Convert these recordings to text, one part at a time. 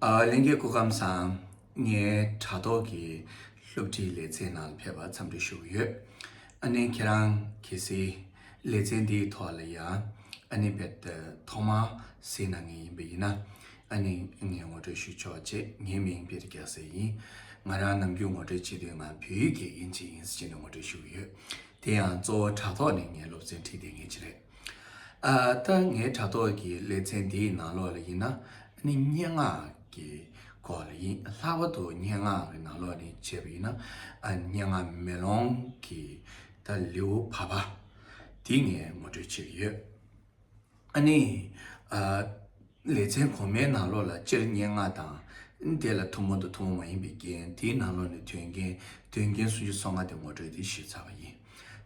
གླིང་གའི་སྐུ་ཁམས་བཟང་ངའི་དྲ་ཐོག་གི་སློབ་ཁྲིད་ལེ་ཚན་ནང་ཕེབས་པར་འཚམས་འདྲི་ཞུ་གི་ཡོད། ཨ་ནེ་ཁྱེད་རང་གལ་སྲིད་ལེ་ཚན་འདིའི་ཐོག་ལ་ཡང་ཨ་ནེ་བེད་ཐོག་མར་གཟིགས་གནང་ངེས་ཡིན་པ་ཡིན་ན་ཨ་ནེ་ངས་ངོ་སྤྲོད་ཞུ་ཆོག་ཅེས་ངའི་མིང་བེད་རྒྱག་ས་ཡིན། ང་རང་ནམ་རྒྱུན་ངོ་སྤྲོད་བྱེད་དུས་ང་བོད་ཡིག་གི་དབྱིན་ཇི་ཡིན་ཟེར་ནས་ངོ་སྤྲོད་ཞུ་གི་ཡོད། དེ་ཡང་གཙོ་བོ་དྲ་ཐོག་ནས་ངས་སློབ་ཚན་ཁྲིད་དེ་ངེས་ཅི་རེད། ད་ངའི་དྲ་ཐོག་གི་ལེ་ཚན་འདིའི་ནང་ལོགས་ལ་ཡིན་ན་ནི་སྙན་ངག་གི་སྐོར་ལ་ཡིན་ལྷག་པར་དུ་སྙན་ངག་གི་ནང་ལོགས་ནི་བྱས་པ་ཡིན་ན་སྙན་ངག་མེ་ལོང་གི་ད་ལེའུ་བར་པ་འདི་ངས་ངོ་སྤྲོད་བྱེད་ཀྱི་ཡོད་ཨ་ནི། ལེ་ཚན་གོང་མའི་ནང་ལོགས་ལ་སྤྱིར་སྙན་ངག་དང། དེ་ལ་ཐུན་མོང་དང་ཐུན་མོང་མ་ཡིན་པའི་རྒྱན། དེའི་ནང་ལོགས་ནས་དོན་རྒྱན། དོན་རྒྱན་སུམ་ཅུ་སོ་ལྔ་སྟེ་ངོ་སྤྲོད་དེ་ཞེས་བྱ་བ་ཡིན།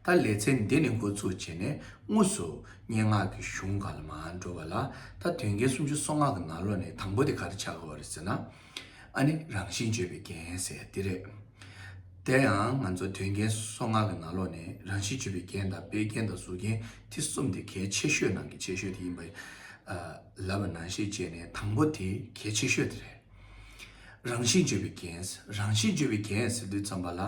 ད་ལེ་ཚན་འདི་ནས་འགོ་ཚུགས་བྱས་ནས་དངོས་སུ་སྙན་ངག་གི་གཞུང་གང་ལ་མ་འགྲོ་བ་ལ། ད་དོན་རྒྱན་སུམ་ཅུ་སོ་ལྔ་གི་ནང་ལོགས་ནས་དང་པོ་དེ་ག་རེ་བྱ་དགོས་བ་རེད་ཟེར་ན། ཨ་ནི་རང་བཞིན་བརྗོད་པའི་རྒྱན་ཟེར་དེ་རེད། དེ་ཡང་ང་ཚོ་དོན་རྒྱན་སོ་ལྔ་གི་ནང་ལོགས་ནས་རང་བཞིན་བརྗོད་པའི་རྒྱན་དང་དཔེའི་རྒྱན་དང་གཟུགས་རྒྱན་དེ་གསུམ་དེ་གལ་ཆེ་ཤོས་ནང་གི་ཆེ་ཤོས་དེ་ཡིན་པ་ལབ་པ་ན་ཤེས་བྱས་ནས་དང་པོ་དེ་གལ་ཆེ་ཤོས་དེ་རེད། རང་བཞིན་བརྗོད་པའི་རྒྱན་ཟེར་རང་བཞིན་བརྗོད་པའི་རྒྱན་ཟེར་དུས་ཙམ་པ་ལ་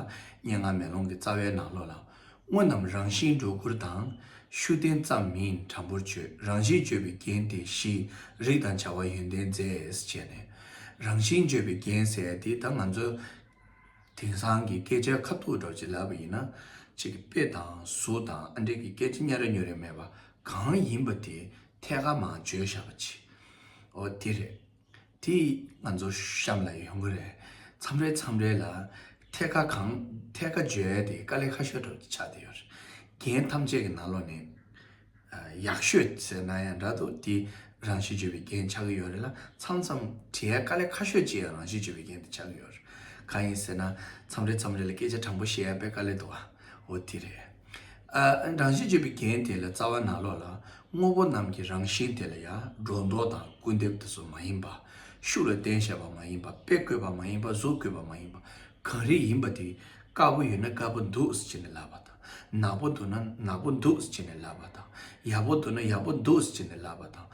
སྙན་ངག་མེ་ལོང་གི་རྩ་བའི་ནང་ལོགས་ལ་དངོས་རྣམས་རང་བཞིན་སྒྲོ་སྐུར་དང། ཤུགས་བསྟན་ཙམ་མིན་དྲང་པོར་བརྗོད། རང་བཞིན་བརྗོད་པའི་རྒྱན་ཏེ་བཞི། རིགས་དང་བྱ་བ་ཡོན་ཏན་རྫས་བྱས་ནས། རང་བཞིན་བརྗོད་པའི་རྒྱན་གསལ་ཏེ་ད་ང་ཚོ། དེང་སང་གི་སྐད་ཆ་ཁ་ཐུག་སྒྲོག་བྱེད་ལབ་པ་ཡིན་ན། ཅིག་དཔེ་དང་གཟུགས་དང་ཨ་འབྲེལ་གྱི་སྐད་ཆ་སྙན་ར་ཉོན་རེ་མེད་པ་གང་ཡིན་པ་དེ་ཐད་ཀར་མང་བརྗོད་བཞག་པ་ཅི། འོ་དེ་རེད། དེ་ང་ཚོ་གཤམ་ལ་ཡོང་གི་རེད། མཚམས་རེ་མཚམས་རེ་ལ་ཐད་ཀ་གང་ཐད་ཀ་བརྗོད་དེ་དཀའ་ལས་ཁ་ཤས་སྒྲོག་ཆགས་བསྡད་ཡོད་རེད། རྒན་ཐམས་ཅད་ཀྱི་ནང་ལོགས་ནས་ཡག་ཤོས་ཟེར་ན་ཡང་འདྲ་འདུག་དེ་རང་གཞི་བརྗོད་པའི་རྒན་ཆགས་ཀྱི་ཡོད་རེད་ལ་མཚམས་མཚམས་དྲི་ཡའི་དཀའ་ལས་ཁ་ཤོས་ཅིག་ཡང་རང་གཞི་བརྗོད་པའི་རྒན་དེ་ཆགས་ཀྱི་ཡོད་རེད། གང་ཡིན་ཟེར་ན་མཚམས་རེ་མཚམས་རེ་ལ་སྐད་ཆ་དྲང་པོ་བཤད་ཡ་པའི་དཀའ་ལས་འདུག་ཨོ་དེ་རེད། རང་བཞིན་བཅོས་པའི་རྒྱན་དེ་ལ་རྩ་བ་ནག་ལོགས་ལ། དངོས་པོ་རྣམས་ཀྱི་རང་བཞིན་དེ་ལ་ཡང་སྒྲོ་འདོགས་དང་སྐུར་འདེབས་དེ་ཚོ་མ་ཡིན་པ། ཤུགས་ལ་བརྟེན་བྱ་བ་མ་ཡིན་པ་དཔེ་བཀོད་པ་མ་ཡིན་པ་གཟུགས་བཀོད་པ་མ་ཡིན་པ་གང་རིགས་ཡིན་པ་དེ། དཀར་པོ་ཡོད་ན་དཀར་པོ་འདུག་ཟེར་ནས་ལབ་པ་དང། ནག་པོ་འདུག་ན་ནག་པོ་འདུག་ཟེར་ནས་ལབ་པ་དང། ཡག་པོ་འདུག་ན་ཡག་པོ་འདུག་ཟེར་ནས་ལབ་པ་དང།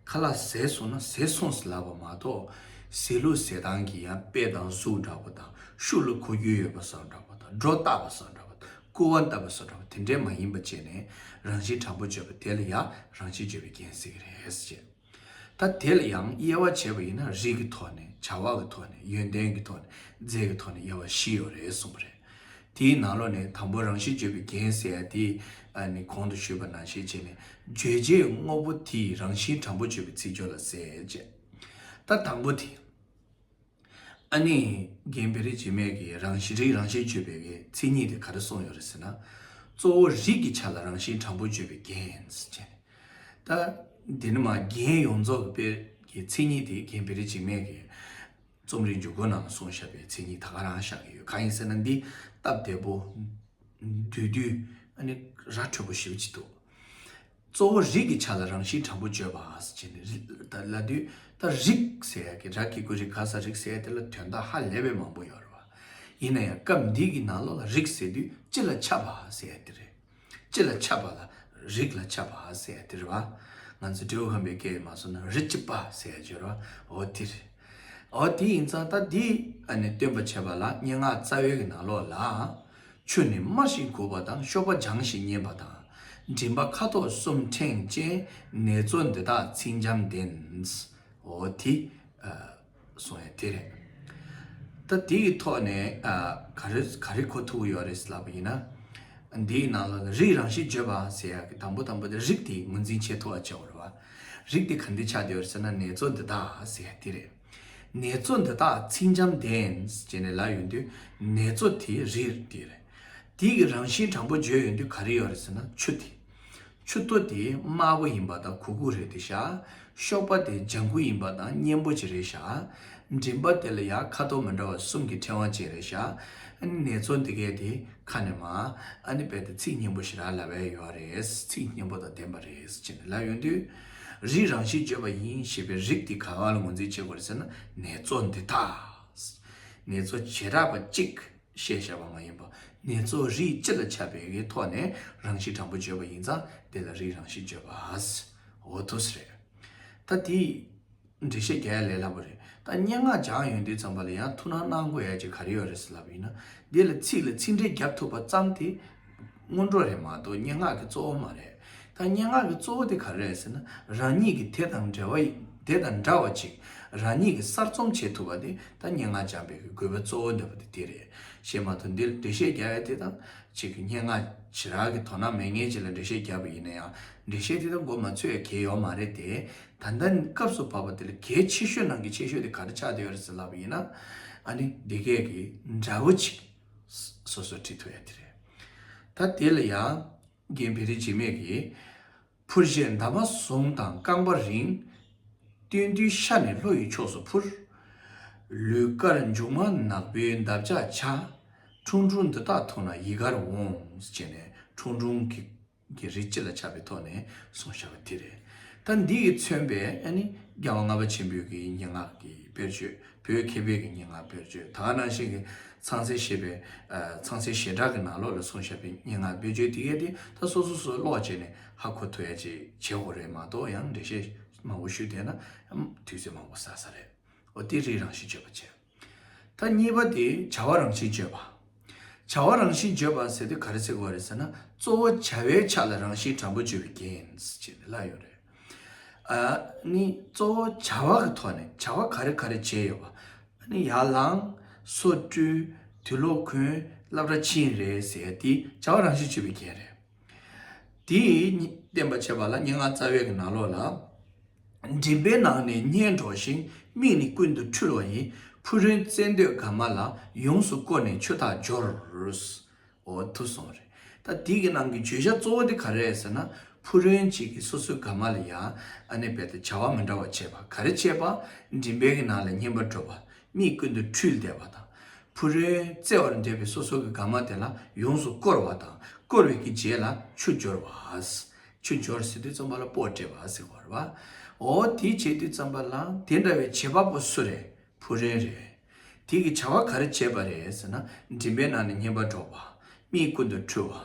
ཁ་ལག་ཟས་སོང་ན་ཟས་སོང་ཟེར་ལབ་པ་མ་གཏོགས། ཟས་ལུགས་ཟས་སྟངས་ཀྱི་ཡང་དཔེ་དང་གཟུགས་འདྲ་པོ་དང་ཤུགས་ལ་གོ་རྒྱུ་ཡོད་པ་སོགས་འདྲ་པོ་དང་སྒྲོ་བཏགས་པ་སོགས་འདྲ་པོ་དང། སྐུར་བ་བཏབ་པ་སོགས་འདྲ་བ་དེ་འདྲས་མ་ཡིན་པ་བྱས་ནས་རང་བཞིན་དྲང་པོ་བརྗོད་པ་དེ་ལ་ཡང་རང་བཞིན་བརྗོད་པའི་རྒྱན་ཟེར་གྱི་རེད་བྱས། ད་དེ་ལ་ཡང་དབྱེ་བ་བྱེད་པ་ཡིན་ན་རིགས་ཀྱི་ཐོག་ནས་བྱ་བ་གི་ཐོག་ནས་ཡོན་ཏན་གྱི་ཐོག་ནས་རྫས་ཀྱི་ཐོག་ནས་དབྱེ་བ་བཞི་ཡོད་རེད་གསུངས་པ་རེད། དེའི་ནང་ལོགས་ནས་དང་པོ་རང་བཞིན་བརྗོད་པའི་རྒྱན་ཟེར་ཡ་དེ་ནི་གོང་དུ་ཞུས་པ་ནང་བཤད་བྱས་ནས་བརྗོད་བྱའི་དངོས་པོ་དེའི་རང་བཞིན་དྲང་པོ་བརྗོད་པའི་ཚིག་སྦྱོར་ལ་ཟེར་བྱས། ད་དང་པོ་དེ། ཨ་ནེ། རྒན་བེ་རི་རྗེ་མེད་ཀྱིས་རང་བཞིན་རིགས་རང་བཞིན་བརྗོད་པའི་མཚན་ཉིད་དེ་ག་རེ་གསུངས་ཡོད་རེད་ཟེར་ན། གཙོ་བོ་རིགས་ཀྱི་ཆ་ལ་རང་བཞིན་དྲང་པོ་བརྗོད་པའི་རྒྱན། ད་དེ་ནི་མ་རྒན་ཡོངས་རྫོགས་ཀྱི་དཔེར་གྱི་མཚན་ཉིད་དེ་རྒན་བེ་རི་རྗེ་མེད་ཀྱིས་རྩོམ་རིག་འཇུག་སྒོ་ནང་གསུང་བཞག་པའི་མཚན་ཉིད་ད་ག་རང་བཞག་གི་ཡོད་གང་ཡིན་ཟེར་ན་འདི་སྟབས་བདེ་པོ། འདུས་འདུས། ཨ་ནེ། ར་འཕྲོད་པོ་ཞེས་པ་ཅི་འདུག། གཙོ་བོ་རིགས་ཀྱི་ཆ་ལ་རང་བཞིན་དྲང་པོ་བརྗོད་པ་ཅན་ལ་དུས་ལྟར་རིགས་ཟེར་ཡ་གི་རགས་ཀྱི་དགུས་རིགས་ག་ས་རིགས་ཟེར་དེ་ལ་དོན་དག་ཧ་ལས་པའི་མང་པོ་ཡོད་རེད་བ། ཡིན་ན་ཡང་སྐབས་འདི་གི་ནང་ལོགས་ལ་རིགས་ཟེར་དུས་སྤྱི་ལ་ཁྱབ་པ་ཟེར་ཡ་དེ་རེད། སྤྱི་ལ་ཁྱབ་པ་ལ་རིགས་ལ་ཁྱབ་པ་ཟེར་ཡ་དེ་རེད་བ། ང་ཚོས་འབྲས་བུ་ཧམ་པའི་སྐད་ཡིག་མ་བཟོ་ན་རིགས་ཀྱི་པ་ཟེར་ཡ་བརྗོད་རེད་བ་འོ་དེ་རེད། འོ་དེ་ཡིན་ཙང་ད་འདི་ནས་སྟོན་པ་བྱས་པ་ལ་སྙན་ངག་རྩ་བའི་གི་ནང་ལོགས་ལ། ཆོས་ནི་སྨྲ་ཞིང་གོ་བ་དང་གཤོག་པ་སྦྱང་ཞིང་མཉན་པ་དང། མགྲིན་པ་ཁ་དོག་གསུམ་ཕྲེང་ཅན་ནེ་ཙོ་འདི་དག་ཚིག་འཇམ་ལྡནས་ཨོ་དྷི། སོང་ཡ་དེ་རེད། ད་འདི་ཡི་ཐོག་ནས་ག་རེ་གོ་ཐུབ་ཡོད་རེད་ཟེར་ལབ་པ་ཡིན་ན། འདི་ཡི་ནང་ལ་ནི་རིགས་རང་བཞིན་བརྗོད་པ་ཟེར་ཡ་གི་དང་པོ་དང་པོ་དེ་རིགས་དེ་ངོས་འཛིན་བྱེད་ཐུབ་བ་བྱའོ་རེད་བ། རིགས་དེ་ག་འདི་ཆགས་ཡོད་རེད་ཟེར་ན་ནེ་ཙོ་འདི་དག་ཟེར་ཡ་དེ་རེད། ནེ་ཙོ་འདི་དག་ཚིག་འཇམ་ལྡན་ཅེས་ནས་ལབ་ཡོད་དུས་ནེ་ཙོ་དེ་རིགས་དེ་རེད། དེ་གི་རང་བཞིན་དྲང་པོ་བརྗོད་ཡོད་དུས་ག་རེ་ཡོད་རེད་ཟེར་ན་ཆུ་དེ། ཆུ་ཐོ་དེ་དམར་པོ་ཡིན་པ་དང་གུ་གུ་རེད་དེ་ཤ་ཤོག་པ་དེ་ལྗང་གུ་ཡིན་པ་དང་སྙན་པོ་ཅི་རེད་ཤ་མགྲིན་པ་དེ་ལ་ཡ་ཁ་དོག་མི་འདྲ་བ་གསུམ་གི་ཕྲེང་བ་ཅི་རེད་ཤ་ནེ་ཙོ་འདི་གས་དེ་ཁ་ནས་མ་ཨ་ནི་རྦད་དེ་ཚིག་སྙན་པོ་ཞིག་རག་ལབ་ཨེ་ཡོད་རེད་ཚིག་སྙན་པོ་དང་ལྡན་པ་རེད་ཅེས་ནས་ལབ་ཡོད་དུས། རིགས་རང་བཞིན་བརྗོད་པ་ཡིན་ཞེས་པའི་རིགས་དེ་ག་གང་ལ་ངོས་འཛིན་བྱེད་དགོས་རེད་ཟེར་ན་ངལ་རྩོལ་འདི་དག་ངལ་རྩོལ་བྱེ་བྲག་པ་གཅིག་གིས་བཤད་བྱ་བ་མ་ཡིན་པར་ངལ་རྩོལ་རིགས་སྤྱི་ལ་ཁྱབ་པའི་གའི་ཐོག་ནས་རང་བཞིན་དྲང་པོ་བརྗོད་པ་ཡིན་ཙང་དེ་ལ་རིགས་རང་བཞིན་བརྗོད་པ་འོ་ཐུགས་རེད་ད་དེ། འགྲེལ་བཤད་རྒྱ་ཡག་ལས་སླ་པོ་རེད་ད་སྙན་ངག་སྦྱང་ཡོན་དུས་ཙམ་པ་ལ་ཡང་ཐུགས་སྣང་གནང་དགོས་ཡ་ཅི་ག་རེ་ཡོད་རེད་ཟེར་ལབ་ཡིན་ན་འདི་ལ་ཚིག་ལ་ཚིག་འགྲེལ་རྒྱབ་ཐུབ་པ་ཙམ་དེ་སྔོན་འགྲོ་རེད་མ་གཏོགས་སྙན་ངག་གི་གཙོ་བོ་མ་རེད་ད་སྙན་ངག་གི་གཙོ་བོ་དེ་ག་རེ་རེད་ཟེར་ན་རང་ཉིད་ཀྱི་དེ་དང་འདྲ་བ་དེ་དང་འདྲ་བ་ཅིག་རང་ཉིད་ཀྱི་གསར་རྩོམ་བྱེད་ཐུབ་པ་དེ་ད་སྙན་ངག་སྦྱང་པའི་གི་དགོས་པ་གཙོ་བོ་འདོད་པ་དེ་དེ་རེད་ཞེས་མ་གཏོགས་འདི་ལ་འགྲེལ་བཤད་རྒྱ་ཡག་དེ་དང་གཅིག་སྙན་ངག་ཇི་རག་གི་དོ་སྣང་མེད་ངེས་ཅིག་ལ་འགྲེལ་བཤད་རྒྱབ་པ་ཡིན་ན་ཡང་འགྲེལ་བཤད་དེ་དང་མགོ་མ་ཚོས་ཡ་གལ་ཡོག་མ་རེད་དེ། ད་ལྟ་ནི་སྐབས་སུ་བབས་པ་དེ་ལ་གལ་ཆེ་ཤོས་ནང་གི་ཆེ་ཤོས་དེ་ག་རེ་ཆགས་བསྡད་ཡོད་རེད་ཟེར་ལབ་པ་ཡིན་ན། ཨ་ནི་འདི་སྐད་ཀྱི་འདྲ་བོ་ཅིག་སོ་སོར་བྲིས་ཐུབ་ཡ་དེ་རེད། ད་དེ་ལ་ཡང་རྒན་བེ་རི་འཇིགས་མེད་ཀྱིས། འཕུར་བཞེས་འདབ་མ་བཟུང་དང་རྐང་པ་རིང། སྟོན་དུས་ཤར་ནས་ལྷོ་ཡི་ཕྱོགས་སུ་འཕུར། ལུས་དཀར་མཇུག་མ་ནག་པོའི་འདབ་ཆགས་བྱ། ཁྲུང་ཁྲུང་འདི་དག་མཐོང་ན་ཡི་གར་འོང། ཅེས་ནས་ཁྲུང་ཁྲུང་གི་གི་རིགས་སྤྱི་ལ་ཆགས་པའི་ཐོག་ནས་སོང་བཞག་པ་དེ་རེད། ད་འདི་གིས་མཚོན་པའི་ཨ་ནི་རྒྱལ་བ་ལྔ་པ་ཆེན་པོའི་གི་སྙན་ངག་གི་དཔེར་བརྗོད་བོད་མཁས་པའི་གི་སྙན་ངག་དཔེར་བརྗོད་ད་ནང་བཞིན་གི་ཚངས་སྲས་ཞེས་པའི་ཚངས་སྲས་ཞེ་དྲག་གི་ནང་ལོགས་ལ་སོང་བཞག་པའི་སྙན་ངག་དཔེར་བརྗོད་དེ་གས་དེ་ད་སོ་སོ་སོ་ཀློག་བྱས་ནས་ཧ་གོ་ཐུ་ཡ་བྱེད་བྱེད་ཧོ་རེད་མ་གཏོགས་ཡང་འགྲེལ་བཤད་མང་བོ་ཞུས་བསྡད་ན་དུས་ཚོད་མང་བོ་ཟག་ས་རེད་འོ་དེ་རིགས་རང་བཞིན་ཆོད་པ་བྱས། ཐ་གཉིས་པ་དེ་བྱ་བ་རང་བཞིན་བརྗོད་པ། བྱ་བ་རང་བཞིན་བརྗོད་པ་ཟེར་དུས་ག་རེ་ཟེར་དགོས་པ་རེད་ཟེར་ན་གཙོ་བོ་བྱ་བའི་ཆ་ལ་རང་བཞིན་དྲང་པོ་བརྗོད་པའི་རྐྱེན་ཅེས་པའི་བླ་ཡོད་རེད། ཨ་ནི་གཙོ་བོ་བྱ་བ་གི་ཐོག་ནས་བྱ་བ་ག་རེ་ག་རེ་བྱས་ཡོད་པ། ཨ་ནི་ཡར་ལངས། སོ་བཀྲུས། དུས་ལོག་གོན། སླབ་ར་ཕྱིན་རེད་ཟེར་དུས་བྱ་བ་རང་བཞིན་བརྗོད་པའི་རྐྱེན་རེད། དེས་བརྟན་པར་བྱས་པ་ལ་སྙན་ངག་རྩ་བའི་ནང་ལོགས་ལ། མགྲིན་པའི་ནང་ནས་སྙན་སྒྲོགས་ཤིང་མིག་ནི་ཀུན་ཏུ་འཁྲུལ་བ་ཡིན། ཕུ་རོན་བཙན་འདོད་དགའ་མ་ལ་ཡོངས་སུ་བསྐོར་ནས་ཆོས་ཐག་སྦྱོར། འོ་ཐུག་སོང་རེད། ད་དེ་གི་ནང་གི་བརྗོད་བྱ་གཙོ་བོ་དེ་ག་རེད་ཟེར་ན། ཕུ་རོན་ཅིག་གིས་སོ་སོའི་དགའ་མ་ལ་ཡང་ཨ་ནེ་བལྟས་ཏེ་བྱ་བ་མི་འདྲ་བ་བྱས་པ་ག་རེ་བྱས་པ། མགྲིན་པའི་ནང་ལ་སྙན་པ་སྒྲོགས་པ། གཉིས་ཀུན་ཏུ་འཁྲུལ་བདེ་བ་དང། ཕུ་རོལ་རྩེ་བར་འདྲེས་པའི་སོ་སོ་གི་དགའ་མ་དེ་ལ་ཡོངས་སུ་བསྐོར་བ་དང་བསྐོར་བའི་གི་རྗེས་ལ་ཆུ་སྦྱོར་བ། ཆུ་སྦྱོར་ཟེར་དུས་རྩོམ་པ་ལ་པོ་སྤྲེལ་བ་ཟེར་བར་བ། འོ་དེ་བྱེད་དུས་རྩོམ་པ་ལ་དེ་འདྲ་བའི་བྱེད་པ་པོ་སུ་རེད་ཕུ་རོལ་རེད། དེ་གི་བྱ་བ་ག་རེ་བྱེད་པ་རེད་ཟེར་ན་མགྲིན་པའི་ནང་ནས་སྙན་པ་སྒྲོག་པ། གཉིས་ཀུན་ཏུ་འཁྲུལ་བ།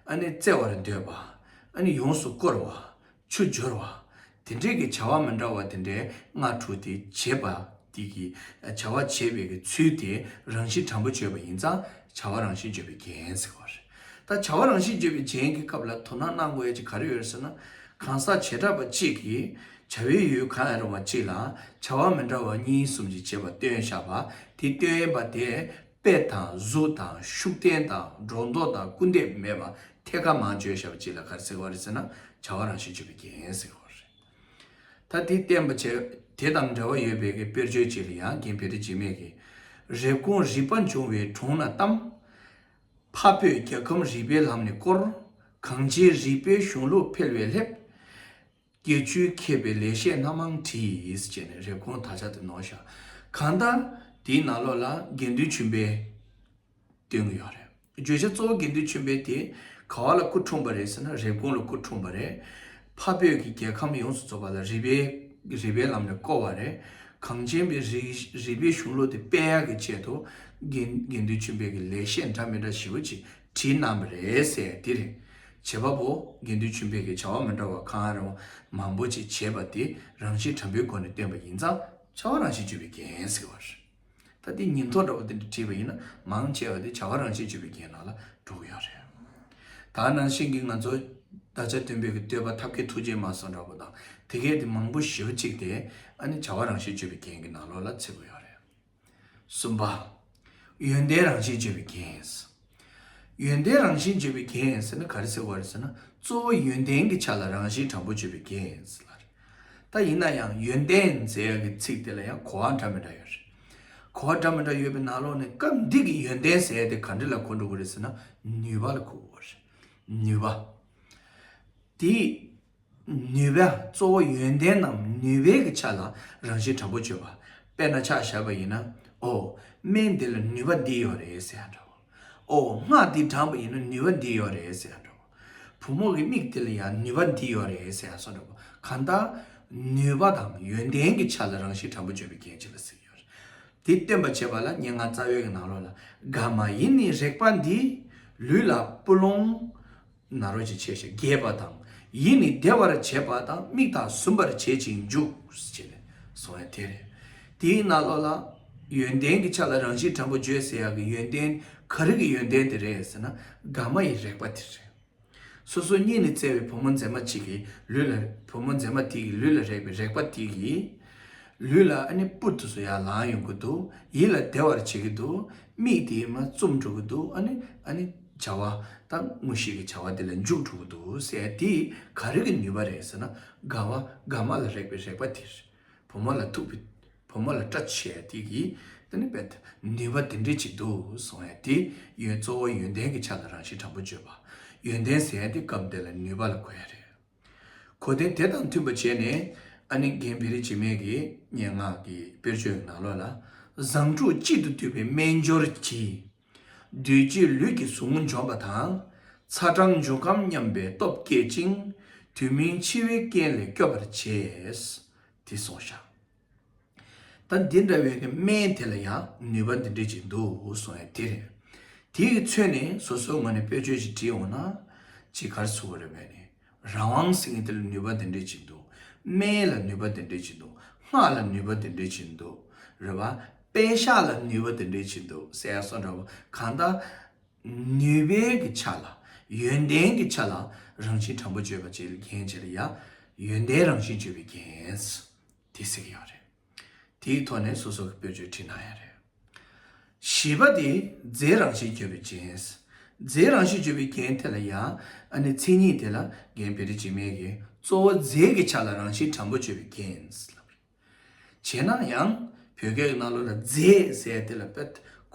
ཨ་ནི་རྩེ་བར་འདོད་པ། ཨ་ནི་ཡོངས་སུ་བསྐོར་བ། ཆུ་སྦྱོར་བ། དེ་འབྲེལ་གྱི་བྱ་བ་མི་འདྲ་བ་དེ་འདྲའི་སྔ་དྲོ་དེ་བྱེད་པ་དེ་གྱི་བྱ་བ་བྱེད་པའི་གྱི་ཚུལ་དེ་རང་བཞིན་དྲང་པོ་བརྗོད་པ་ཡིན་ཙང་བྱ་བ་རང་བཞིན་བརྗོད་པའི་རྒྱན་ཟེར་བ་རེད། ད་བྱ་བ་རང་བཞིན་བརྗོད་པའི་རྒྱན་གྱི་སྐབས་ལ་དོ་སྣང་གནང་དགོས་ཀྱི་ག་རེ་ཡོད་ཟེར་ན། གང་ཟག་བྱེ་བྲག་པ་གཅིག་གིས་བྱ་བའི་ཡུལ་གང་ཡང་རུང་བ་གཅིག་ལ་བྱ་བ་མི་འདྲ་བ་གཉིས་གསུམ་གྱིས་བྱེད་པ་སྟོན་བཞག་པ་དེ་སྟོན་པ་དེ། དཔེ་དང་གཟུགས་དང་ཤུགས་བསྟན་དང་སྒྲོ་འདོགས་དང་སྐུར་འདེབས་མེད་པར་ཐད་ཀར་མང་བརྗོད་བྱ་བ་གཅིག་ལ་གར་ཟེར་བ་རེད་ཟེར་ན་བྱ་བ་རང་བཞིན་བརྗོད་པའི་རྒྱན་ཟེར་བ་རེད། ད་དེ་བསྟན་པ་བྱས་དེ་དང་འབྲེལ་བ་ཡོད་པའི་གི་དཔེར་བརྗོད་ཅིག་ལ་ཡང་རྒྱན་བེ་རི་འཇིགས་མེད་ཀྱིས། རེབ་གོང་རིག་པ་འབྱུང་བའི་དྲུང་ན་བལྟམས། འཕགས་བོད་རྒྱལ་ཁམས་རིག་པའི་ལམ་ནས་བསྐོར། གངས་ཅན་རིག་པའི་གཞུང་ལུགས་འཕེལ་བའི་སླེབས། སྐྱེ་བཅུའི་མཁས་པའི་ལེགས་བཤད་སྣ་མང་བྲིས། ཅེས་ནས་རེབ་གོང་དར་ཆ་དེ་ནོར་བཞག་གང་ལྟར། དེའི་ནང་ལོགས་ལ་དགེ་འདུན་ཆོས་འཕེལ་དེ་ཡོད་རེད། བརྗོད་བྱ་གཙོ་བོ་དགེ་འདུན་ཆོས་འཕེལ་དེ་ག་བ་ལ་སྐུ་འཁྲུངས་པ་རེད་ཟེར་ན་རེབ་གོང་ལ་སྐུ་འཁྲུངས་པ་རེད། ཕ་བོད་ཀྱི་རྒྱལ་ཁམས་ཡོངས་སུ་རྫོགས་པ་ལ་རི་པའི་རི་པའི་ལམ་ནས་བསྐོར་བ་རེད། གངས་ཅན་པའི་རི་པའི་གཞུང་ལུགས་དེ་དཔལ་ཡག་གི་ཆེད་དུ་དགེ་འདུན་ཆོས་འཕེལ་གྱི་ལེགས་བཤད་འདྲ་མི་འདྲ་ཞེ་བོ་ཅིག་དྲི་རྣམ་པ་རེད་ཟེར་དེ་རེད། བྱེད་པ་པོ་དགེ་འདུན་ཆོས་འཕེལ་གྱིས་བྱ་བ་མི་འདྲ་བ་གང་རུང་མང་པོ་ཅིག་བྱེད་པ་དེ་རང་བཞིན་དྲང་པོའི་སྒོ་ནས་སྟོན་པ་ཡིན་ཙང་བྱ་བ་རང་བཞིན་སྤྱོད་པའི་རྒྱན་ཟེར་བ་རེད། ད་དེ་ཉིན་ཐོ་འདྲ་བོ་འདི་འདྲ་བྲིས་པ་ཡིན་ན་མང་ཆེ་བ་དེ་བྱ་བ་རང་བཞིན་སྤྱོད་པའི་རྒྱན་ནང་ལ་འགྲོ་གི་ཡོད་རེད། ད་ནང་བཞིན་གྱི་ང་ཚོ་ད་ཆ་དོན་འཕེལ་གྱི་བསྟོད་པ་ཐབས་མཁས་ཐུགས་རྗེའི་མ་སོགས་འདྲ་པོ་དང་དེ་སྐད་དེ་མང་པོ་ཞེ་བོ་གཅིག་དེ་ཨ་ནི་བྱ་བ་རང་བཞིན་སྤྱོད་པའི་རྒྱན་གྱི་ནང་ལོགས་ལ་ཚིག་གོ་ཡོད་རེད། གསུམ་པ། ཡོན་ཏན་རང་བཞིན་བརྗོད་པའི་རྒྱན། ཡོན་ཏན་རང་བཞིན་བརྗོད་པའི་རྒྱན་ཟེར་ན་ག་རེ་ཟེར་བ་རེད་ཟེར་ན་གཙོ་བོ་ཡོན་ཏན་གྱི་ཆ་ལ་རང་བཞིན་དྲང་པོ་བརྗོད་པའི་རྒྱན་ཟེར་ལ། ད་ཡིན་ན་ཡང་ཡོན་ཏན་ཟེར་ཡག་གི་ཚིག་དེ་ལ་ཡང་གོ་བ་འདྲ་མི་འདྲ་ཡོད་རེད། གོ་བ་འདྲ་མི་འདྲ་ཡོད་པའི་ནང་ལོགས་ནས་སྐབས་འདི་གི་ཡོན་ཏན་ཟེར་དེ་ག་འདྲི་ལ་གོ་འགྲོ་གི་རེད་ཟེར་ན་ནུས་པ་ལ་གོ་དགོས་པ་རེད། ནུས་པ། དེ། ནུས་པ་གཙོ་བོ་ཡོན་ཏན་ནམ་ནུས་པའི་གི་ཆ་ལ་རང་བཞིན་དྲག་པོ་སྤྱོད་པ། དཔེར་ན་ཕྱག་བཞག་པ་ཡིན་ན། ཨོ། སྨན་འདི་ལ་ནུས་པ་འདི་ཡོད་རེད་ཟེར་ཡང་འདྲ་བོ། ཨོ། སྔགས་འདི་བགྲངས་པ་ཡིན་ན་ནུས་པ་འདི་ཡོད་རེད་ཟེར་ཡང་འདྲ་བོ། བུ་མོ་གི་མིག་འདི་ལ་ཡང་ནུས་པ་འདི་ཡོད་རེད་ཟེར་ཡང་སོགས་འདྲ་བོ། གང་ལྟར། ནུས་པ་དང་ཡོན་ཏན་གྱི་ཆ་ལ་རང་བཞིན་དྲག་པོ་སྤྱོད་པའི་གལ་ཆེ་བ་ཟེར་གྱི་ཡོད། དེ་སྟོན་པར་བྱེད་པ་ལ་སྙན་ངག་རྩ་བའི་གི་ནང་རོ་ལ། དགའ་མ་ཡིན་ནི་རེག་པ་འདི། ལུས་ལ་སྤུ་ལོང། ནཱ་རོ་ཅི་བྱས་ཤིང་རྒྱས་པ་དང། ཡིད་ནི་བདེ་བར་བྱེད་པ་དང་མིག་དང་ཟུམ་པར་བྱེད་ཅིང་འཇུག། ཅེས་གསུངས་བས་དེ་ལས། དེའི་ནཱ་རོ་ལ། ཡོན་ཏན་གྱི་ཆ་ལ་རང་བཞིན་དྲང་པོ་བརྗོད་ཟེར་ཡག་གི་ཡོན་ཏན་ག་རིགས་ཀྱི་ཡོན་ཏན་དེ་རེད་ཟེར་ན་དགའ་མ་ཡི་རེག་པ་དེ་རེད། སོ་སོ་གཉིས་ནི་བརྩེ་བའི་བུ་མོ་མཛེས་མ་གཅིག་གི་ལུས་ལ་བུ་མོ་མཛེས་མ་དེ་ཡི་ལུས་ལ་རེག་པའི་རེག་པ་དེ་ཡི། ལུས་ལ་ཨ་ནི་པུ་ཏུ་སུ་ཡ་ལང་ཡོང་གི་འདུག་ཡིད་ལ་བདེ་བར་བྱེད་ཀྱི་འདུག་མིག་དེ་ཡི་མ་བཙུམ་འགྲོ་གི་འདུག་ཨ་ནི་ཨ་ནི། བྱ་བ་དང་དངོས་ཤེས་ཀྱི་བྱ་བ་དེ་ལ་མཇུག་གྲུབ་པོ་འདུག་ཟེར་ཡ་དེ་ག་རེ་གི་ནུས་པ་རེད་ཟེར་ན་དགའ་བ་དགའ་མ་ལ་རེག་པའི་རེག་པ་དེ་རེད་བུ་མོ་ལ་ཐུག་པའི་བུ་མོ་ལ་སྐྲ་ཆད་ཡ་དེ་གི་དེ་ནི་བེད་ནུས་པ་དེ་འདྲས་ཅིག་འདུག་སོང་ཡ་དེ་ཡོན་གཙོ་བོ་ཡོན་ཏན་གྱི་ཆ་ལ་རང་བཞིན་དྲང་པོ་བརྗོད་པ་ཡོན་ཏན་ཟེར་ཡ་དེ་སྐབས་འདི་ལ་ནུས་པ་ལ་གོ་ཡ་རེད་གོ་དེ་དེ་དང་མཐུན་པ་བྱས་ནས་ཨ་ནེ་རྒན་བེ་རི་འཇིགས་མེད་ཀྱི་སྙན་ངག་གི་དཔེར་བརྗོད་ནང་ལོགས་ལ་བཟང་དྲུག་གཅིག་ཏུ་འདུས་པའི་སྨན་སྦྱོར་གྱི། བདུད་བརྒྱུད་ལུས་ཀྱི་ཟུག་རྔུ་འཇོམས་པ་དང། ཚ་གྲང་འབྱུང་ཁམས་མཉམ་པའི་སྟོབས་བསྐྱེད་ཅིང། དུས་མིན་འཆི་བའི་རྐྱེན་ལས་སྐྱོབ་པར་བྱེད། དེ་གསུངས་ཤིང། ད་འདི་འདྲ་བའི་སྨན་དེ་ལ་ཡང་ནུས་པ་འདི་འདྲའི་ཅིག་འདུག་གསུངས་ཡོད་དེ། དེས་མཚོན་ནས་སོ་སོའི་ངོས་ནས་དཔེར་བརྗོད་ཅིག་བྲིས་འོང་ན་ཅི་གར་བཟོ་བ་རེད་བས་ནས། རང་དབང་སིང་ངེ་ལ་ནུས་པ་དེ་འདྲའི་ཆེ་འདུག། སྨད་ལ་ནུས་པ་དེ་འདྲའི་ཆེ་འདུག། སྔགས་ལ་ནུས་པ་དེ་འདྲའི་ཆེ་འདུག། རེད་བ། དཔེ་ཤ་ལ་ནུས་པ་དེ་འདྲའི་ཆེ་འདུག་ཟེར་ཡ་སོགས་འདྲ་བོ། གང་ལྟར། ནུས་པའི་གི་ཆ་ལ། ཡོན་ཏན་གྱི་ཆ་ལ། རང་བཞིན་དྲང་པོ་བརྗོད་པ་བཅས་ལ་རྒྱན་བྱས་ལ་ཡ། ཡོན་ཏན་རང་བཞིན་བརྗོད་པའི་རྒྱན། དེ་ཟེར་གྱི་ཡོད་རེད། དེའི་ཐོག་ནས་སོ་སོ་གི་བོད་ཆོས་ཁྲིད་གནང་ཡ་རེད། བཞི་པ་དེ་རྫས་རང་བཞིན་བརྗོད་པའི་རྐྱེན། རྫས་རང་བཞིན་བརྗོད་པའི་རྐྱེན་དེ་ལ་ཡང་ཨ་ནི་མཚན་ཉིད་དེ་ལ་འགན་བེ་རི་འཇིགས་མེད་ཀྱིས་གཙོ་བོ་རྫས་ཀྱི་ཆ་ལ་རང་བཞིན་དྲང་པོ་བརྗོད་པའི་རྐྱེན། བྱས་ན་ཡང་བོད་སྐད་ཀྱི་སྣ་ལོ་ལ་རྫས་ཟེར་དེ་ལ་དཔེ་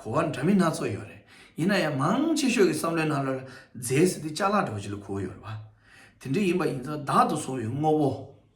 གོ་བ་འདྲ་མིན་སྣ་ཚོགས་ཡོད་རེད། ཡིན་ན་ཡང་མང་ཆེ་ཤོས་ཀྱི་བསམ་བློའི་སྣ་ལོ་ལ་རྫས་ཟེར་དེ་ལྕགས་ལ་འདྲ་བོ་ཅིག་ལ་གོ་ཡོད་རེད་བ། དེ་འདྲ་ཡིན་པ་ཡིན་ཙང་བདག་ཏུ་བཟུང་བའི་དངོས་པོ།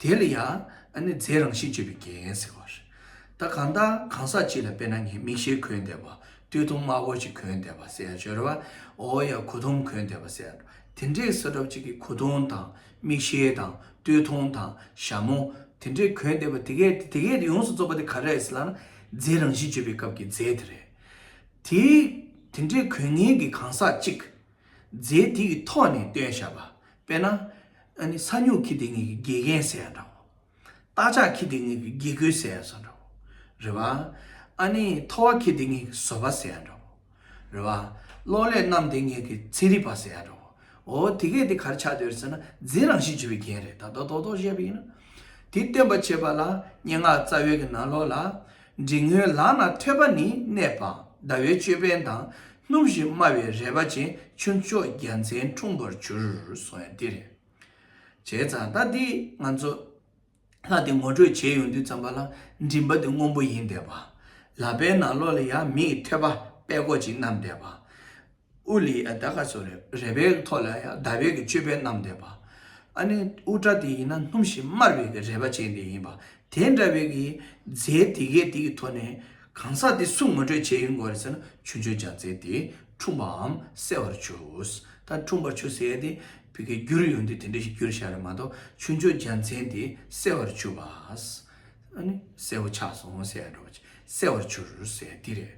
དེ་ལ་ཡང་ནི་རྫས་རང་བཞིན་སྤྱོད་པའི་རྒྱན་ཟེར་བ། ད་གང་ལྟར་གང་ཟག་གཅིག་ལ་དཔེར་ན་ངས་མིག་ཤེལ་གོན་བསྡད་པ། སྟོད་ཐུང་དམར་པོ་ཞིག་གོན་བསྡད་པ་ཟེར་ཡང་ཆོག་རེད་པ། འོ་ཡ་གོ་ཐུང་གོན་བསྡད་པ་ཟེར་ཡང་ཆོག་དེ་འདྲའི་ས་གྲོགས་གཅིག་གིས་གོ་ཐུང་དང་མིག་ཤེལ་དང་སྟོད་ཐུང་དང་ཞྭ་མོ་དེ་འདྲས་གོན་བསྡད་པ་དེ་གས་དེ་དེ་གས་དེ་ཡོངས་སུ་རྫོགས་པ་དེ་ག་རེད་ཟེར་ལ་ན་རྫས་རང་བཞིན་སྤྱོད་པའི་སྐབས་ཀྱི་རྫས་དེ་རེད། དེ་དེ་འདྲས་གོན་ངེས་ཀྱི་གང་ཟག་གཅིག། རྫས་དེ་ཡི་ཐོག་ནས་སྟོན་བྱ་བ། དཔེར་ན། ས་སྨྱུག་གི་དེ་ངེད་ཀྱི་དགེ་རྒན་ཟེར་ཡང་འདྲའོ། རྟ་ལྕག་གི་དེ་ངེད་ཀྱི་དགེ་སྐོས་ཟེར་ཡང་འདྲའོ། རེ་བ། ཨ་ནི། ཐོ་བ་ཁྱི་དེ་ངེད་ཀྱི་བཟོ་པ་ཟེར་ཡང་འདྲའོ། རེ་བ། གློག་ཀླད་རྣམས་དེ་ངེད་ཀྱི་ཚན་རིག་པ་ཟེར་ཡང་འདྲའོ། འོ་དེ་གས་དེ་གར་ཆགས་འདོད་རེད་ཟེར་ན་རྫས་རང་བཞིན་བྱེད་པའི་རྒྱན་རེད་ད་ལྟ་རྡོག་རྡོག་བཤད་པ་ཡིན་ན། དེ་སྟོན་པར་བྱེད་པ་ལ་སྙན་ངག་རྩ་བའི་གི་ནང་ལོགས་ལ། འབྲིང་ངོའི་ལག་ན་ཐོད་པ་ནི་གནས་པ་ཟླ་བའི་ཅོད་པན་དང་སྣུམ་བཞིན་དམར་བའི་རལ་པ་ཅན་ཁྱུ་མཆོག་རྒྱལ་མཚན་འཁྲུངས་པར་གྱུར་སོང་ཡང་འདི་རེད། བྱས་ཙང་ད་འདི་ང་ཚོ་ལྷ་དེ་ངོ་སྤྲོད་བྱས་ཡོང་དུས་ཙམ་པ་ལ་མགྲིན་པ་དེ་སྔོན་པོ་ཡིན་བསྡད་པ། ལག་པའི་ནང་ལོགས་ལ་ཡང་མིའི་ཐོད་པ་པད་ཀོག་ཅིག་བསྣམས་བསྡད་པ། ཨུ་ལི་ཡཱ་དཱ་ག་སོ་རེ་བའི་ཐོག་ལ་ཡང་དཱ་བིད་ཀྱི་ཅོད་པན་བསྣམས་བསྡད་པ། ཨ་ནེ་ཨུ་ཏྲ་དེ་ཡིན་ན་སྣུམ་ཞིག་དམར་བའི་གི་རེ་བ་ཅན་དེ་ཡིན་པ། དེ་འདྲ་བའི་གི་རྫས་དེ་གའི་དེ་གི་ཐོག་ནས་གང་ཟག་དེ་སུ་ངོ་སྤྲོད་བྱས་ཡོད་འགོ་རེ་ཟེར་ན་ཆུ་མཆོད་བྱ་ཚེ་དེ་འཁྲུངས་པའམ་གསལ་བར་ཆུས་ད་འཁྲུངས་པར་ཆུ་ཟེར་དེ་བི་གའི་རྒྱུར་ཡོང་དུས་དེ་འདྲ་ཞིག་རྒྱུར་བཞག་རེ་མ་གཏོགས་ཆུ་མཆོད་བྱ་མཚན་དེ་གསལ་བར་ཆུས་པ། ཨ་ནི། གསལ་བོ་ཆགས་སོང་ཟེར་ཡང་འགྲོ་བ་ཅི་གསལ་བར་འགྱུར་ཟེར་འདི་རེད།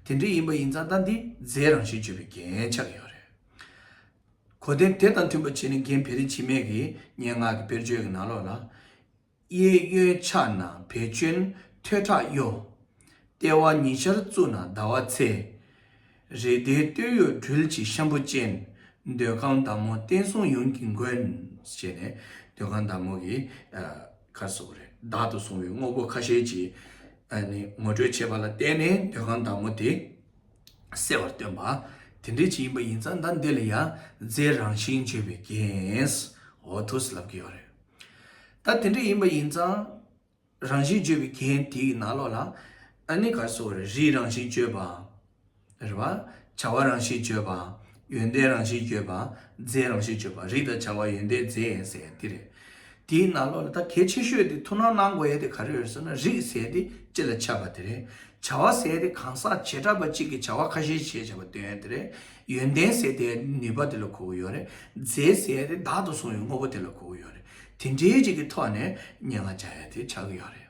དེ་འདྲ་ཡིན་པ་ཡིན་ཙང་ད་འདིས་རྫས་རང་བཞིན་བརྗོད་པའི་རྒྱན་ཆགས་ཀྱི་ཡོད་རེད། གོ་དེ་དེ་དང་མཐུན་པ་བྱས་ནས་རྒན་བེ་རི་འཆི་མེད་ཀྱི་སྙན་ངག་གི་དཔེར་བརྗོད་ཀྱི་ནང་ལོགས་ལ། གཡས་གཡོན་ཕྱག་ན་བེ་ཅོན་ཐོད་ཁྲག་གཡོ། ལྟེ་བ་ཉི་ཤར་གཙུག་ན་ཟླ་བ་ཚེས། རེ་ལྡེའི་སྟོད་གཡོགས་སྦྲུལ་གྱི་ཤམ་བུ་ཅན། འདོད་ཁང་བདག་མོ་བསྟན་སྲུང་ཡོངས་ཀྱི་མགོན། ཞེས་ནས་འདོད་ཁང་བདག་མོ་གི་ཁར་བཟོ་བ་རེ་བདག་ཏུ་བཟུང་བའི་དངོས་པོ་ཁ་ཤས་ཀྱི་ངོ་སྤྲོད་བྱས་པ་ལ་བརྟེན་ནས་འདོད་ཁང་བདག་མོ་དེ་གསལ་བར་སྟོན་པ། དེ་འདྲའི་ཆེད་ཡིན་པ་ཡིན་ཙང་ཟླ་འདི་ལ་ཡང་རྫའི་རང་བཞིན་བརྗོད་པའི་རྒྱན། ཧོ་ཐུ་སི་ལབ་ཀྱི་ཡོད་རེད། ད་དེ་འདྲ་ཡིན་པ་ཡིན་ཙང། རང་བཞིན་བརྗོད་པའི་རྒྱན་དེ་ཡི་ནང་ལོགས་ལ། ཨ་ནི་ག་སོགས་རིགས་རང་བཞིན་བརྗོད་པ། རེ་བ། བྱ་བ་རང་བཞིན་བརྗོད་པ། ཡོན་ཏན་རང་བཞིན་བརྗོད་པ། རྫས་རང་བཞིན་བརྗོད་པ། རིགས་དང་བྱ་བ་ཡོན་ཏན་རྫས་ཡིན་ཟེར་ཡང་འདི་རེད། དེ་ཡི་ནང་ལོགས་ལ་ད་གལ་ཆེ་ཤོས་དེ་ཐུགས་སྣང་གནང་དགོས་ཡས་དེ་ག་རེ་རེད་ཟེར་ན་རིགས་ཟེར་དེ་སྤྱི་ལ་ཁྱབ་པ་དེ་རེད། བྱ་བ་ཟད་དེ་གང་ཟག་བྱེ་བྲག་པ་གཅིག་གིས་བྱ་བ་ཁ་ཤས་བྱེད་བྱ་བ་དོན་དེ་རེད། ཡོན་ཏན་ཟད་དེ་ནུས་པ་དེ་ལ་གོ་བོ་ཡོད་རེད། རྫས་ཟད་དེ་བདག་ཏུ་བཟུང་བའི་དངོས་པོ་དེ་ལ་གོ་བོ་ཡོད་རེད། དེ་འདྲའི་གཅིག་གི་ཐོག་ནས་སྙན་ངག་བྱ་ཡ་དེ་ཆགས་ཀྱི་ཡོད་རེད།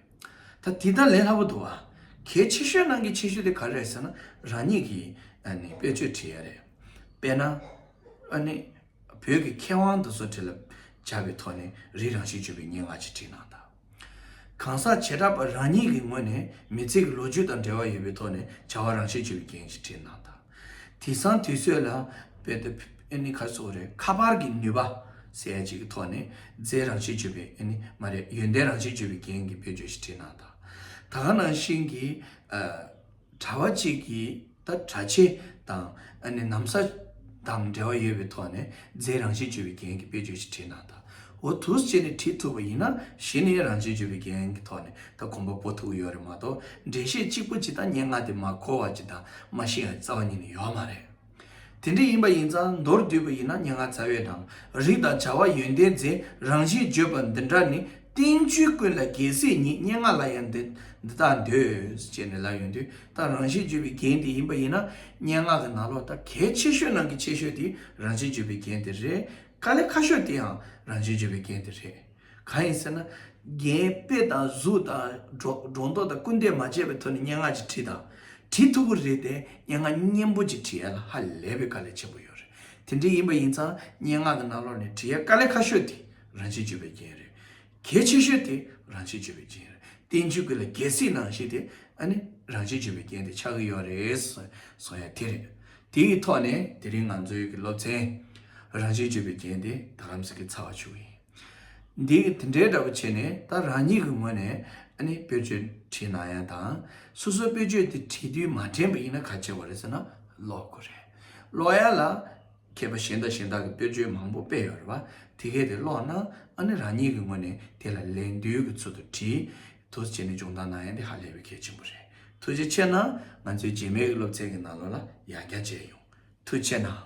ད་དེ་དང་ལས་སླ་པོ་འདུག་ཨ། གལ་ཆེ་ཤོས་ནང་གི་ཆེ་ཤོས་དེ་ག་རེད་ཟེར་ན་རང་ཉིད་ཀྱིས་དཔེ་ཆོས་བྲིས་ཡ་རེད། དཔེར་ན། ཨ་ནི། བོད་ཀྱི་མཁས་དབང་དེ་ཚོ་དེ་ལ་བྱ་བའི་ཐོག་ནས་རིགས་རང་བཞིན་བརྗོད་པའི་སྙན་ངག་ཅིག་བྲིས་གནང་དང། གང་ཟག་བྱེ་བྲག་པ་རང་ཉིད་ཀྱི་ངོས་ནས་མི་ཚེ་གྱི་ལོ་རྒྱུས་དང་འབྲེལ་བ་ཡོད་པའི་ཐོག་ནས་བྱ་བ་རང་བྱས་ཆོས་ཀྱི་རྒྱན་ཞེས་བྲིས་གནང་དང། དེང་སང་དུས་ཚོད་ལ་ཁ་པར་གྱི་ནུས་པ་ཟེར་ཡ་ཅིག་གི་ཐོག་ནས་རྫས་རང་བྱས་ཆོས་པའི་ཡོན་ཏན་རང་བྱས་ཆོས་པའི་རྒྱན་གྱི་བེད་སྤྱོད་ཞེས་བྲིས་གནང་དང། ད་ག་ནང་བཞིན་གྱི། གྲྭ་བ་གཅིག་གིས་ད་གྲྭ་ཆེ་དང་གནམ་ས་དང་འབྲེལ་བ་ཡོད་པའི་ཐོག་ནས་རྫས་རང་བཞིན་བཅོས་པའི་འགན་གྱི་དཔེ་བརྗོད་ཅིག་བྲིས་གནང་དང་འོ་ཐུགས་བཅས་ནས་བྲིས་ཐུབ་པ་ཡིན་ན་གཞི་ནས་རང་བཞིན་བཅོས་པའི་འགན་གྱི་ཐོག་ནས་ད་གོམ་པ་སྤོ་ཐུབ་ཀྱི་ཡོད་རེད་མ་གཏོགས་འགྲེལ་བཤད་གཅིག་པོ་གཅིག་དང་སྙན་ངག་དེ་མ་གོ་བ་གཅིག་དང་མ་ཤེས་བ་རྩ་བ་ཉིད་ནས་ཡོད་མ་རེད། དེ་འདྲ་ཡིན་པ་ཡིན་ཙང་མདོར་བསྡུས་པ་ཡིན་ན་སྙན་ངག་རྩ་བའི་དང་རིགས་དང་བྱ་བ་ཡོན་ཏན་རྫས་རང་བཞིན་བརྗོད་པ་འདི་འདྲ་ནི་བསྟན་བཅོས་ཀུན་ལ་རྒྱལ་སྲས་ཉིད་སྙན་ངག་ལ་ཡང་འདི་དག་འདོད། ཅེས་ནས་ལབ་ཡོང་དུས་ད་རང་བཞིན་བརྗོད་པའི་རྒྱན་དེ་ཡིན་པ་ཡིན་ན་སྙན་ངག་གི་ནང་ལོགས་ད་གལ་ཆེ་ཤོས་ནང་གི་ཆེ་ཤོས་དེ་རང་བཞིན་བརྗོད་པའི་རྒྱན་དེ་རེད་དཀའ་ལས་ཁ་ཤོས་དེའང་རང་བཞིན་བརྗོད་པའི་རྒྱན་དེ་རེད། གང་ཡིན་ཟེར་ན། རྒན་པོས་ཏང་གཟུགས་དང་སྒྲོ་འདོགས་དང་སྐུལ་འདེད་མ་བྱས་པའི་ཐོག་ནས་སྙན་ངག་ཅིག་བྲིས་དང། བྲིས་ཐུབ་པོ་རེད་དེ། སྙན་ངག་སྙན་པོ་ཅིག་བྲི་ཡ་ལ་ཧ་ལས་པའི་དཀའ་ལས་ཆེན་པོ་ཡོད་རེད། དེ་འདྲ་ཡིན་པ་ཡིན་ཙང་སྙན་ངག་གི་ནང་ལོགས་ནས་བྲི་ཡ་དཀའ་ལས་ཁ་ཤོས་དེ་རང་ཆེ་བརྗོད་པའི་རྐྱེན་རེད། གལ་ཆེ་ཤོས་དེ་རང་ཆེ་བརྗོད་པའི་རྐྱེན་རེད། བསྟན་བཅོས་ཀྱི་ལ་རྒྱལ་སྲིད་ནང་ཞེས་དེ་ནི་རང་ཆེ་བརྗོད་པའི་རྐྱེན་དེ་ཆགས་ཀྱི་ཡོད་རེད། སོང་ཡ་དེ་རེད། དེ་ཡི་ཐོག་ནས་དེ་རིང་ང་ཚོའི་གི་སློབ་ཚན། རང་ཆེ་བརྗོད་པའི་རྐྱེན་དེ་ད་ལམ་ཟེར་གི་ཚར་བ་བྱུང་ཡིན། འདིས་དེ་འདྲའི་འདྲ་པོ་བྱས་ནས་ད་རང་ཉིད་ཀྱི་ངོས་ནས་སྤོས་ཆོས་བྲིས་ན་ཡང་ཐང། སོ་སོའི་སྤོས་ཆོས་དེ་བྲིས་དུས་མ་དྲན་པ་ཡིན་ན་ག་བྱེད་པ་རེད་ཟེར་ན་ལོག་དགོས་རེད། ལོག་ཡ་ལ། མཁས་པ་གཞན་དང་གཞན་དག་གི་སྤོས་ཆོས་མང་པོ་སྤེལ་ཡོད་རེད་བ། དེ་གས་དེ་ཀློག་ན་རང་ཉིད་ཀྱི་ངོས་ནས་དེ་ལ་ལན་བདུན་གྱི་ཚུལ་དུ་བྲིས། ཐུགས་བྱས་ནས་སྦྱོང་བརྡར་གནང་ཡང་དེ་ཧ་ལས་པའི་གལ་ཆེན་པོ་རེད། ཐུགས་རྗེ་ཆེ་གནང། ང་ཚོའི་རྗེས་མའི་གི་སློབ་ཚན་གྱི་ནང་ལོག་ལ་ཡང་བསྐྱར་མཇལ་ཡོང། ཐུགས་ཆེ་གནང།